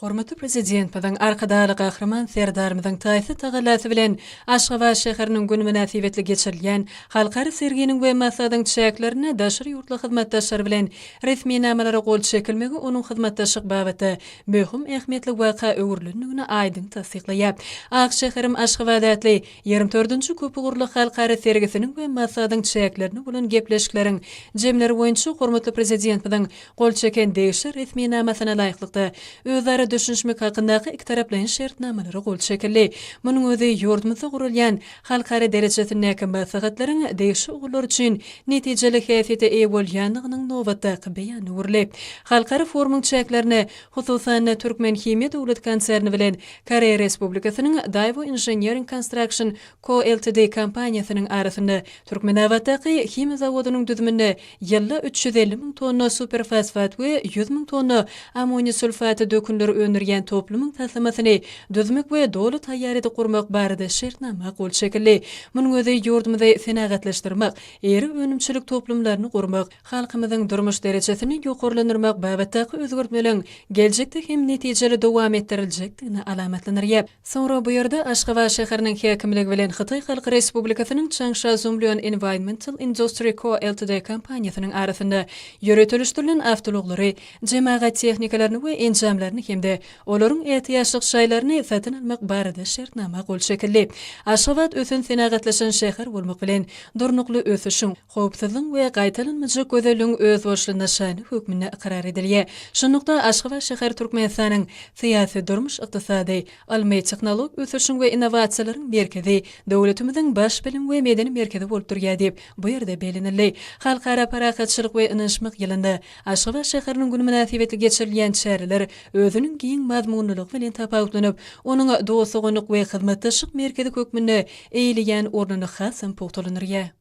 Hormatly Prezidentimiziň, Arkadagly Gahryman Serdarymyzyň taýsyz tagallasy bilen Aşgabat şäheriniň güni mynasybetli geçirilýän halkara serginiň we maslahatyň çäklerinde daşary ýurtly hyzmatdaşlar bilen resminamalara gol çekilmegi onuň hyzmatdaşlyk babatda möhüm ähmiýetli waka öwrülendigini aýdyň tassyklaýar. Ak şäherim Aşgabat atly ýigrimi dördünji köpugurly halkara sergisiniň we maslahatyň çäklerinde bolan gepleşikleriň jemleri boýunça hormatly Prezidentimiziň gol çeken degişli resminamasyna laýyklykda, özara düşünişmek hakyndaky ikitaraplaýyn şertnamalara gol çekildi. Munuň özi ýurdumyzda guralýan halkara derejesindäki maslahatlaryň degişli ugurlar üçin netijeli häsiýete eýe bolýandygynyň nobatdaky beýany öwrülip, halkara forumyň çäklerine, hususan-da, Türkmenhimiýa döwlet konserni bilen Koreýa Respublikasynyň Daewoo Engineering Construction Co Ltd kompaniýasynyň arasynda Türkmenabatdaky himiýa zawodynyň düzüminde ýylda üç ýüz elli müň tonna superfosfat we ýüz müň tonna ammoniý sulfaty dökünleri öndürýän toplumyň taslamasyny düzmek we doly taýýar edip gurmak barada şertnama gol çekildi. Munuň özi ýurdumyzy senagatlaşdyrmak, iri önümçilik toplumlaryny gurmak, Halkymyzyň durmuş derejesini ýokarlandyrmak babatdaky özgertmeleriň geljekde hem netijeli dowam etdiriljekdigini alamatlandyrýar. Soňra bu ýerde Aşgabat şäheriniň häkimligi bilen Hytaý Halk Respublikasynyň Changsha Zhonglian Environmental Industry Co Ltd kompaniýasynyň arasynda ýöretilişdirilen awtoulaglary, jemagat tehnikalaryny we enjamlaryny hem-de olaryň ätiýaçlyk şaýlaryny satyn almak barada şertnama gol çekildi. Aşgabat ösen senagatlaşan şäher bolmak bilen, durnukly ösüşiň, howpsuzlygyň we gaýtalanmajak gözelligiň özboluşly nyşany hökmünde ykrar edilýär. Şunlukda, Aşgabat şäheri Türkmenistanyň syýasy, durmuş-ykdysady, ylmy-tehnologik ösüşiň we innowasiýalaryň merkezi, döwletimiziň baş bilim we medeni merkezi bolup durýar diýip, bu ýerde bellenildi. Halkara parahatçylyk we ynanyşmak ýylynda Aşgabat şäheriniň güni mynasybetli geçirilýän çäreler özüniň giň mazmunlylygy bilen tapawutlanyp, onuň dost-doganlyk we hyzmatdaşlyk merkezi hökmünde eýeleýän ornuny hasam pugtalandyrýar.